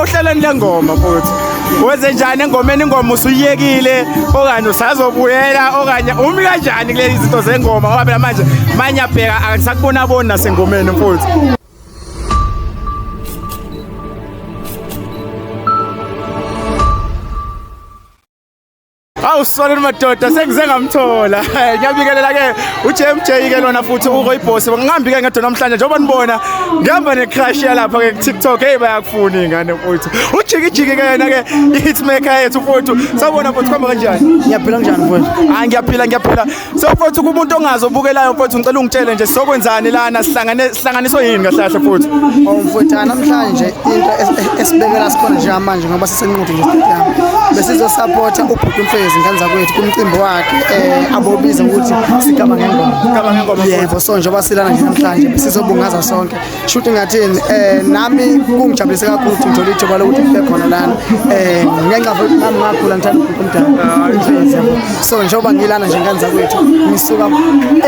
ohlelweni lengoma futhi wenze njani engomeni ingoma usuyiyekile okanye usazobuyela okanye umi kanjani kulezi zinto zengoma ngoba phela manje manye abheka akasakubona aboni nasengomeni futhi Awu sisoneni madoda sengize ngamthola. Ngiyabikelela ke uJMJ ke lona futhi uko iboss. Ngihambi ke ngedwa namhlanje njengoba nibona ngihamba ne crush yalapha ke TikTok hey bayakufuna ingane mfuthu. Ujiki jiki ke yena ke i hitmaker yethu mfuthu. Sawubona mfuthu khamba kanjani? Ngiyaphila kanjani mfuthu? Hayi ngiyaphila ngiyaphila. So mfowethu kumuntu ongazo obukelayo mfowethu ngicela ungitshele nje sokwenzani lana sihlangane sihlanganiswe yini kahle kahle mfowethu. Oh mfowethu namhlanje into esibekela sikhona nje manje ngoba sisenquthu nje stadium. Besizo support ubhuti umfezi ngane zakwethu kumcimbi wakhe eh abobiza ukuthi sigaba ngengoma. Sigaba ngengoma. Yebo so njengoba silana nje namhlanje besizobungaza sonke shuthi ngathini um nami kungijabulise kakhulu ukuthi ngithole ithuba lokuthi kube khona lana um ngenxa futhi nami ngakhula ngithanda umuntu omdala so njengoba ngilana nje nganza kwethu ngisuka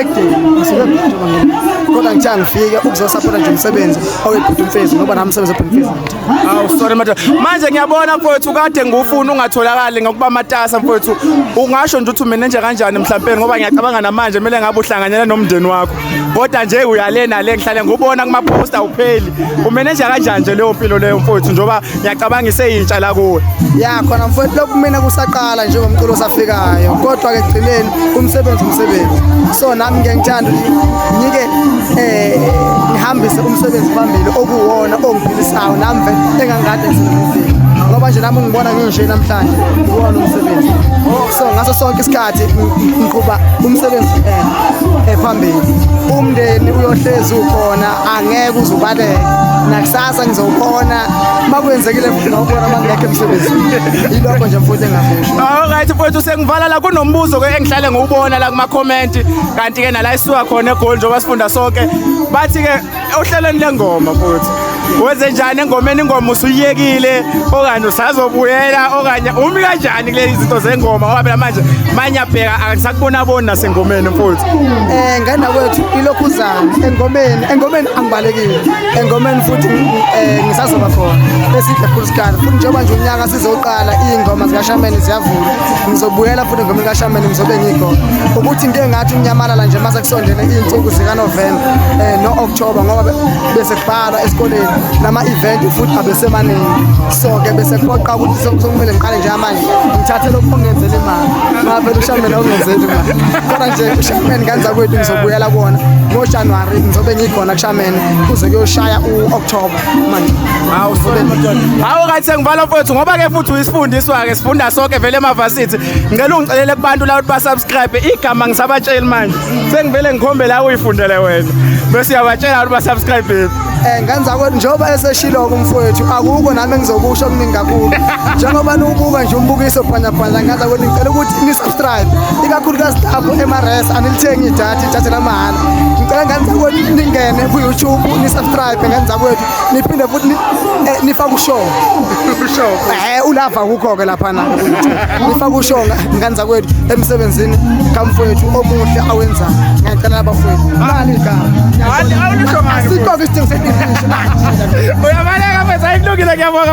ekudeni ngisuka ekudeni kodwa ngithiya ngifike ukuzosaphotha nje umsebenzi owebhuti umfezi ngoba nami umsebenzi webhuti umfezi awu sorry madoda manje ngiyabona mfowethu kade ngufuna ungatholakali ngokuba matasa mfowethu ungasho nje ukuthi umenenje kanjani mhlawumbe ngoba ngiyacabanga namanje kumele ngabe uhlanganyela nomndeni wakho kodwa nje uyale nale ngihlale ngubona kuma-post awupheli umeneja kanjani nje leyo mpilo leyo mfowethu njengoba ngiyacabanga iseyintsha la kuwe ya khona mfowethu lokhu mina kusaqala njengomculo osafikayo kodwa-ke ekugcineni umsebenzi umsebenzi so nami ngike ngithanda ngike um ngihambise umsebenzi phambili okuwona ongiphilisayo nami vele engangikade ngisenomfika ngoba nje nami ungibona nginje namhlanje uwona umsebenzi so ngaso sonke isikhathi athi ngiqhuba umsebenzi eh, ephambili umndeni uyohlezi ukhona angeke uzubaleke nakusasa ngizowukhona makwenzekile futhi nawubona mangekho emsebenzini ilokho nje mfuthi engakusho alright mfowethu sengivala la kunombuzo ke engihlale ngiwubona la kuma comment kanti ke nala isuka khona egoli njengoba sifunda sonke bathi ke ohlelweni lengoma futhi wenze njani engomeni ingoma usuyiyekile okanye usazobuyela okanye umi kanjani kulezi zinto zengoma ngoba phela manje manye abheka angisakubona boni nasengomeni mfowethu eh ngana kwethu ilokhu uzama engomeni engomeni angibalekile engomeni futhi eh ngisazoba khona besidle futhi sikhala futhi njengoba nje unyaka Ngizoqala iy'ngoma zikashameni ziyavula ngizobuyela futhi ngoma likashameni ngizobe ngiyigona ukuthi into engathi unyamalala nje mase kusondele iy'nsuku zikanovemba um eh, no-okthoba ngoba bese kubhalwa esikoleni nama-event futhi abesemaningi so-ke bese kuphoqa ukuthi sokumele ngiqale njengamanje ngithathe lokhu ongenzela imali ngavele ushameni awungenzeli imali kodwa nje ushameni kanza kwethu ngizobuyela kona ngojanuwari ngizobe ngiyikhona kushameni kuze kuyoshaya u-okthoba hawu sobe madoda hawu kathi sengivala mfowethu ngoba ke futhi uyisifundiswa ke sifunda sonke vele emavasithi ngicela ungicelele kubantu la ukuthi basubscribe igama ngisabatsheli manje sengivele ngikhombe la uyifundele wena bese uyabatshela ukuthi basubscribe eh ngenza kwethu njengoba eseshilo kumfowethu akukho nami engizokusho okuningi kakhulu njengoba niwubuka nje umbukiso phanya phanya ngenza kwethu ngicela ukuthi ni subscribe ikakhulukazi lapho emares anilithengi idatha idatha lamahhala ngicela ngenza kwethu ningene ku YouTube ni subscribe bhekani zakwethu niphinde futhi eh, nifake ushongo eh ulava kukho-ke laphana nifake ushongo ngani zakwethu emsebenzini kamfowethu omuhle awenzayo ngiyacela abafowethu mali kaasikoke isidingo sebilisho uyabaleka mfethu ayikulungile ngiyabonga